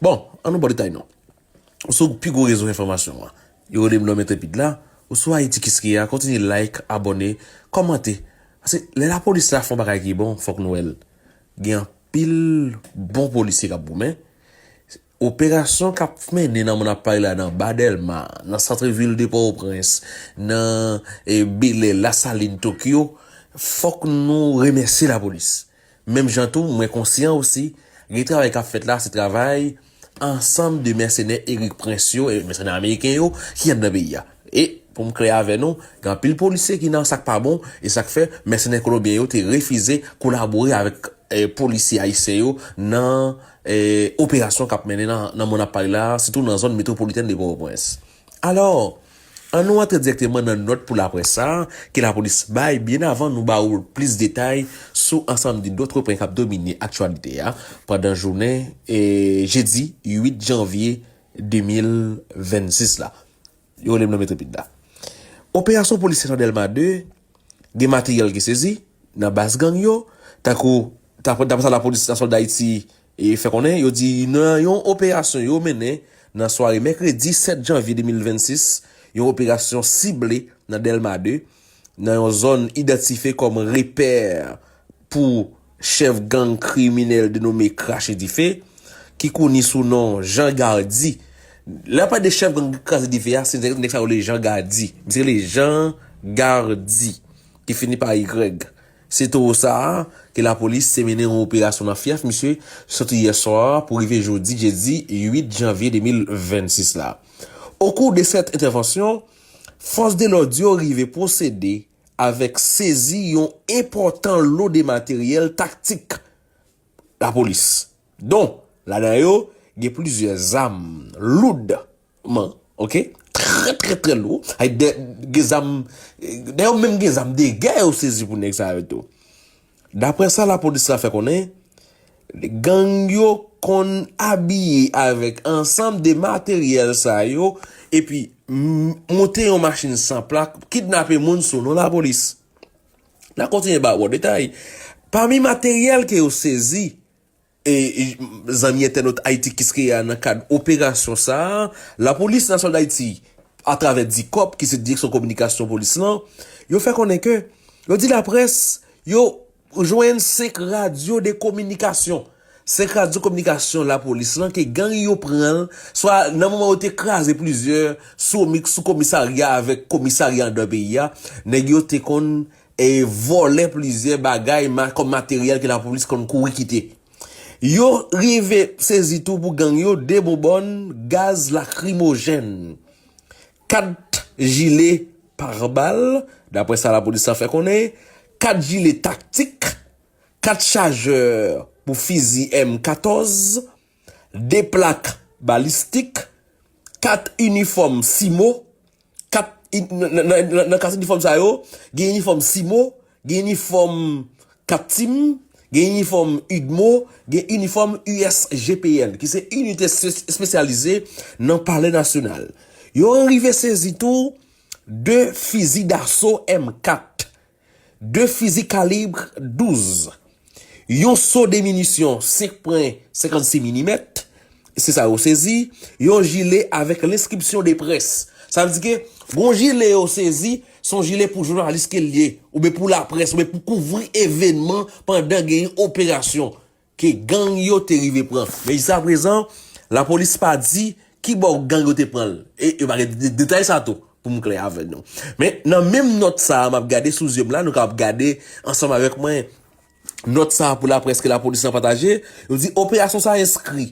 Bon, an nou ba w detay non. Ou sou pi gwo rezo enfòmasyon an. Yo rele m lòm entrepid la. Ou sou Ayiti Kiskeya, kontinye like, abòne, kòmante. Paske lè lapolis la fè yon bagay ki bon, fòk nou wè l. Gen anpil bon polisye k ap goumen. Operasyon k ap mennen nan mo n ap pale la nan ba Dèlma, nan santre vil de Pòtoprens, nan Belè, Lasalin, Tokyo, fòk nou remèsye lapolis. Menm jan tou, mwen konsyan osi, gen travay k ap fèt la, se travay ansanm de mèsenè Erik Prince yo, mèsenè ameriken yo, ki anndan peyi a. E, pou m klè avè nou, gen anpil polisye ki nan sa k pa bon, e sa k fè, mèsenè kolonbyen yo te refize kolabore avèk polisye ayisyen yo nan operasyon k ap mennen nan moman n ap pale la a, sitou nan zòn metwopolitèn de Pòtoprens. Alò, an nou antre dirèkteman nan nòt pou laprès sa a ke lapolis bay byen avan nou ba ou plis detay sou ansanm de dòtre pwen k ap domine aktyalite a pandan jounen jedi 8 janvye 2026 la. Yo rele m nan Metripid la. Operasyon polisye nan Dèlma 2, gen materyèl ki sezi. nan baz gang yo, tankou daprè sa lapolis nasyonal Dayiti fè konnen, yo di nan yon operasyon yo mennen nan sware mèkredi 7 janvye 2026, yon operasyon sible nan Dèlma 2, nan yon zòn idantife kòm repè pou chèf gang kriminèl denome Krache Dife, ki koni sou non Jan Gardi. Lè yo pale de chèf gang Kraze Dife a, se nèg sa yo rele Jan Gardi. Misye rele Jan Gardi. ki fini pa y. Se towo sa a ke lapolis te mennen yon operasyon nan fyèf misye sòti yè swa pou rive jodi jedi 8 janvye 2026 la. Okou de sèt entèvansyon, fòs de lòd yo rive pwosede avèk sezi yon enpòtan lo de materyèl taktik lapolis, don ladan yo gen plizyè zam loud. man ok trè trè trè lou ay dè gen zam dè yo menm gen zam de gè yo sezi pou nèg sa yo tou daprè sa la polis la fè konnen gang yo konn abiye avèk ansanm de materyèl sa yo epi moute yon machin san plak pou kidnape moun sou non la polis na kontinye ba wou detay pami materyèl ke yo sezi. E zanmi entènot Ayiti Kiskeya nan kad operasyon sa a, Lapolis Nasyonal Dayiti atravè Dicop ki se Direksyon Kominikasyon Polis lan, yo fè konnen ke yo di laprès yo jwenn 5 radyo de kominikasyon, 5 radyo kominikasyon Lapolis lan ke gang yo pran l swa nan moman yo te kraze plizyè sou komisarya avèk komisarya andan peyi a, nèg yo te konn e vòlè plizyè bagay kòm materyèl ke lapolis konn kouri kite. Yo rive sezi tou pou gang yo 2 bonbòn gaz lakrimojèn, 4 jile parbal, daprè sa lapolis la fè konnen, 4 jile taktik, 4 chajè pou fizi M 14, 2 plak balistik, 4 inifòm CIMO, nan 4 inifòm sa yo, gen inifòm CIMO, gen inifòm CAPTIM, gen inifòm udmo, gen inifòm USGPN, ki se Inite Espesyalize nan Palè Nasyonal. Yo rive sezi tou 2 fizi daso M4. 2 fizi kalibre 12, yon so de minisyon 5 pwen 56 milimèt, se sa yo sezi, yon jile avèk lenskripsyon de près. Sa vle di ke gon jile yo sezi, se yon jile pou jounalis ke l ye, oubyen pou laprès, oubyen pou kouvri evenman pandan gen yon operasyon. ke gang yo te rive pran. Men jiskaprezan, lapolis pa di ki bò gang yo te pran l, e yo pa gen detay sa tou, pou m klè avè nou. Men, nan menm nòt sa a, m ap gade sou zye m la, nou kapab gade ansanm avèk mwen nòt sa a pou laprès ke lapolis lan pataje, yo di, Operasyon sa a enskri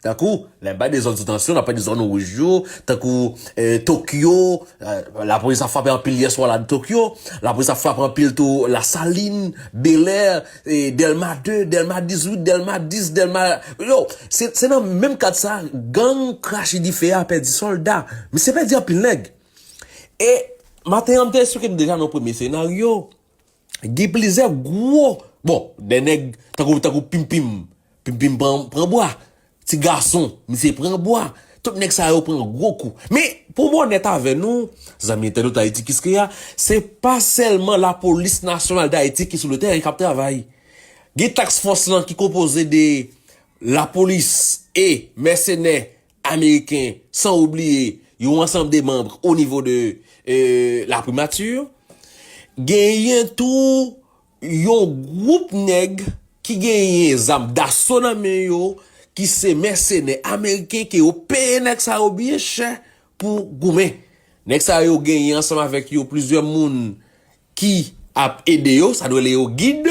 Tankou, lè bay de zòn sou tansyon, nan pè de zòn wouj yo, tankou, Tokyo, lapolis ap frape anpil yèswa la nan Tokyo, lapolis ap frape anpil tou Lasalin, Belè, Dèlma 2, Dèlma 18, Dèlma 10, Dèlma, yo, se nan menm kad sa gang krache dife a pèdi sòlda, misye pèdi anpil nèg. E, maten an m te esplike nou deja nan yon premye senaryo, Gen plizyè gwo bon de nèg tankou tankou Pimpim, Pimpim pran bwa, ti gason misye pran bwa, tout nèg sa yo pran gwo kou. Men pou m onèt avè nou, zanmi entènot Ayiti Kiskeya, se pa sèlman lapolis nasyonal Dayiti ki sou le tèren k ap travay. Gen task fòs lan ki konpoze de lapolis e mèsenè Ameriken, san oubliye yon ansanm de manbre o nivo de la primature. Genyen tou yon gwoup nèg ki genyen zam daso nan men yo, ki se mèsenè ameriken ke yo peye nèg sa yo byen chè pou goumen. Nèg sa yo genyen ansanm avèk yo plizyè moun ki ap ede yo, sa nou rele yo gid,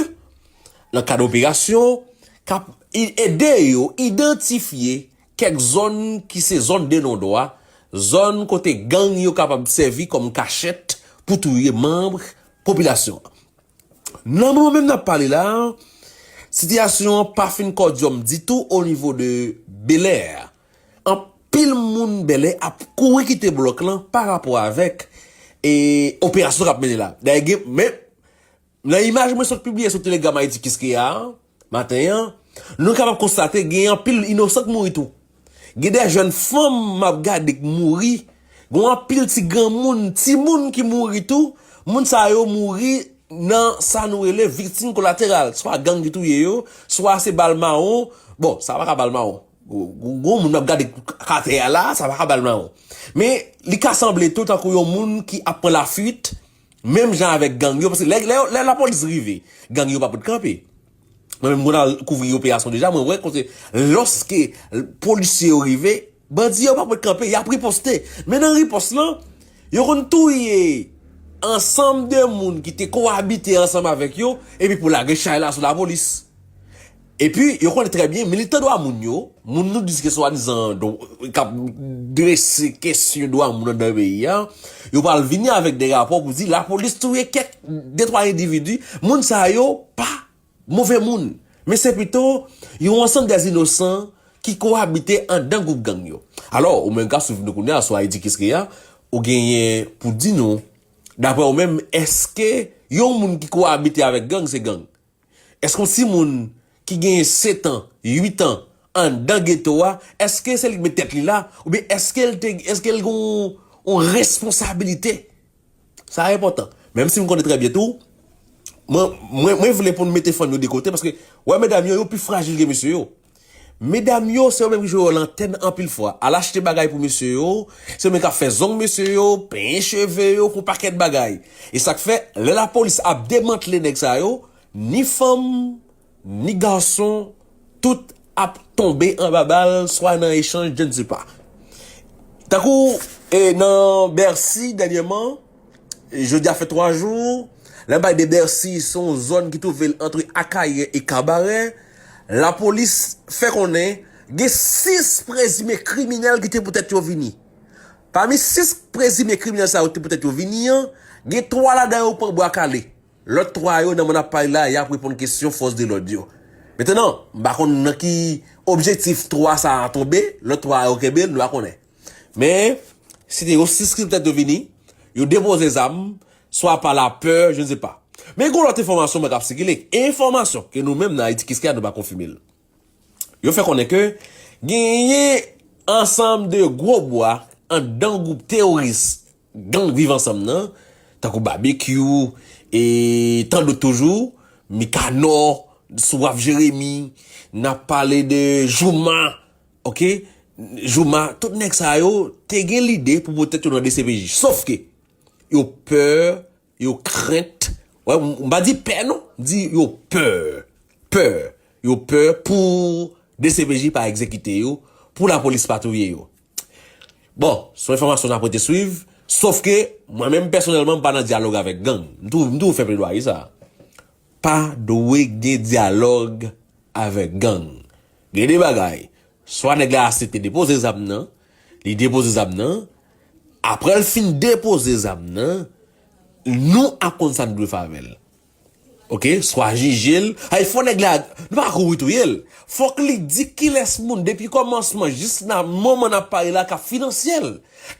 nan kad operasyon, k ap ede yo idantifye Kèk zòn ki se zòn de non dwa, zòn kote gang yo kapab sèvi kòm kachèt pou touye manb popilasyon an. Nan moman menm n ap pale la, sitiyasyon an pa fin kòdyòm ditou onivo de Belè. Anpil moun Bèlè ap kouri kite blòk lan parapò avèk operasyon k ap mennen la. Nan imaj mwen sot pibliye sou Telegram Ayiti Kiskeya a, maten an, nou kapab konstate gen anpil inosan k mouri tou. Gen de jèn fanm m ap gade k mouri, gen yon anpil ti granmoun, timoun ki mouri tou, moun sa yo mouri nan sa nou rele viktim kolateral, swa gang ki touye yo, swa se bal mawon, bon, sa pa ka bal mawon, gwo moun m ap gade k atè a la, sa pa ka bal mawon. Men, li ka sanble tou tankou yon moun ki ap pran lafuit, Menm jan avèk gang yo, paske lè yo, lè lapolis rive, gang yo pa pot kanpe. Mwen menm mwen al kouvri operasyon deja, mwen wè kote lòske polisye yo rive, bandi yo pa pot kanpe, y ap riposte. Men nan ripòs lan, yo konn touye ansanm de moun ki te kowabite ansanm avèk yo, epi pou lage chay la sou lapolis. Epi, yo konnen trè byen, militan dwa moun yo, moun nou di ke swadizan k ap drese kesyon dwa moun anndan peyi a, yo pral vini avèk de rapò pou di lapolis touye kèk de twa endividi, moun sa yo pa move moun, men se pito yon ansanm de inosan ki koabite anndan gwoup gang yo. Alò, ou menm k ap swiv nou kounye a sou Ayiti Kiskeya, ou genyen pou di nou, daprè ou menm, èske yon moun ki koabite avèk gang se gang? Èske yon timoun ki genyen setan, uitan, anndan geto a, èske se li ki met tèt li la, oubyen èske l te, èske l gen yon responsabilite? Sa a enpòtan. Menm si m konnen trè byen tou, mwen, mwen vle pou nou mete fanm yo de kote, paske, wè medam yo, yo pi frajil ke mesye yo. Medam yo, se yo menm ki jwe wòl antèn anpil fwa. Al achte bagay pou mesye yo, se yo menm k ap fè zong mesye yo, penyen cheve yo, fè yon pakèt bagay. E sa k fè, lè lapolis ap demantle nèg sa yo, ni fanm, ni gason, tout ap tonbe anba bal, swa nan echanj, je ne sais pas. Tankou nan Bèsi dènyèman. Jodi a fè 3 jou, Lèbay de Bèsi se yon zòn ki twouve l antre Akayè e Kabarè. Lapolis fè konnen gen 6 prezime kriminèl ki te pou tèt yo vini. Pami 6 prezime kriminèl sa yo te pou tèt yo vini an, gen 3 ladan yo pran bwa kale. Lòt 3 yo nan Mannapay la y ap reponn kesyon fòs de lòd yo. Metenan, m pa konn nan ki objektif 3 sa a tonbe, lòt 3 a yo kenbe, nou pa konnen. Men, se te yon siskriptè te vini, yo depoze zam, swa pa lapè, je ne sais pas. Men gen yon lòt enfòmasyon mwen kap sikile, enfòmasyon ke nou menm nan Ayiti Kiskeya nou pa konfime l. Yo fè konnen ke genyen ansanm de gwo bwa anndan gwoup teworis gang Viv Ansanm nan, tankou Babekyou e tan dòt toujou, Mikanò, Souraf Jeremi, n ap pale de Jouma. Ok Jooma tout nèg sa yo te gen lide pou pot tèt yo nan dcpj sof ke yo peur yo krent wè m pa di pè non m di yo peur peur yo peur pou dcpj pa egzekite yo pou lapolis pa touye yo bon son enfòmasyon nap rete swiv sof ke mwen menm pèsonèlman m pa nan dyalòg avèk gang m toujou fè pledwaye sa Pa dwe gen dyalòg avèk gang. Gen de bagay, swa nèg la asepte depoze zam nan, li depoze zam nan, aprè l fin depoze zam nan, nou ap konn sa n dwe fè avè l. Oke, swa jije l, sa vle di fò nèg la, nou pa ka kouri touye l, fòk li di kilès moun depi kòmansman jis nan moman n ap pale la k ap finanse l,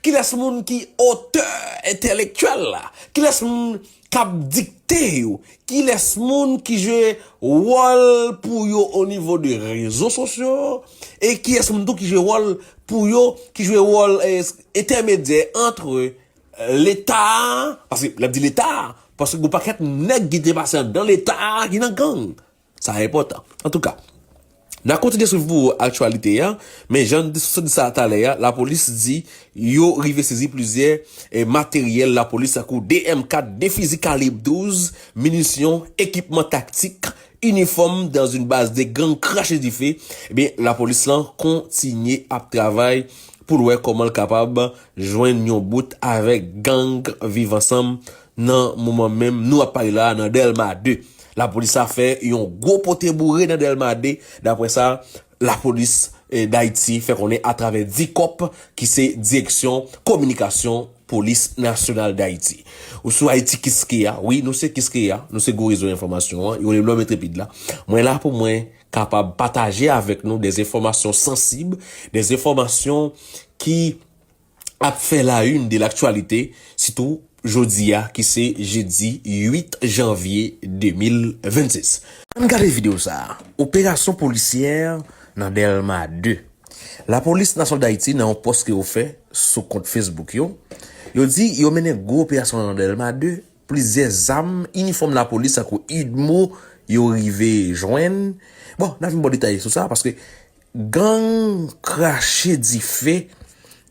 kilès moun ki otè entèlektyèl la, kilès moun k ap dikte yo kilès moun ki jwe wòl pou yo onivo de rezo sosyo e kiyès moun tou ki jwe wòl pou yo, ki jwe wòl entèmedyè antre leta a, paske lè m di leta a, paske gen yon pakèt nèg ki te pase anndan leta a ki nan gang. Sa enpòtan. Antouka, n a kontinye swiv pou ou aktyalite a, men jan n sot di sa talè a, lapolis di yo rive sezi plizyè materyèl lapolis tankou 2 M4, 2 fizi kalib 12, minisyon, ekipman taktik, inifòm dans yn baz de gang krache dife, ebyen lapolis lan kontinye ap travay pou l wè kòman l kapab jwenn yon bout avèk gang viv ansanm Nan moman menm nou ap pale la a nan Dèlma 2, lapolis a fè yon gwo pote boure nan Dèlma 2, daprè sa lapolis Dayiti fè konnen atravè Dicop ki se Direksyon Kominikasyon Polis Nasyonal Dayiti. Ou sou Ayiti Kiskeya, wi nou se Kiskeya, nou se gwo rezo enfòmasyon an, yo rele m Lòm Entrepid la. Mwen la pou mwen kapab pataje avèk nou dèz enfòmasyon sansib, dèz enfòmasyon ki. ap fè la une de l'actualité sitou jodi a ki se jedi 8 janvye 2026. Ann gade video sa a, Operasyon polisyè nan Dèlma 2, Lapolis Nasyonal Dayiti nan yon pòs ke yo fè sou kont Facebook yo, yo di yo mennen gwo operasyon nan Dèlma 2, plizyè zam, inifòm lapolis tankou udmo yo rive jwenn, bon n ap vin ba w detay sou sa paske Gang krache dife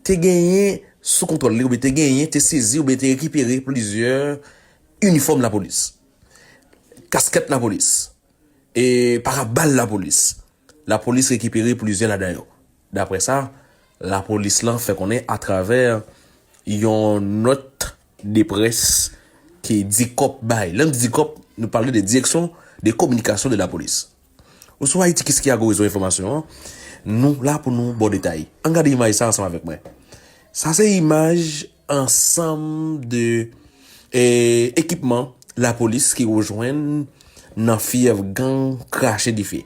te genyen sou kontwòl li oubyen te genyen, te sezi oubyen te rekipere plizyè inifòm lapolis, kaskèt lapolis, e parabal lapolis. Lapolis rekipere plizyè ladan yo, daprè sa lapolis lan fè konnen atravè yon nòt de près ke Dicop bay. Lè nou di Dicop, nou pale de Direction de Communication de la Police. Oswa Ayiti kis ki a gwo rezo enfòmasyon an? Nou la pou nou baw detay. Ann gade imaj sa ansanm avèk mwen. Sa se imaj ansanm de ekipman lapolis ki yo jwenn nan fyèv gang krache dife.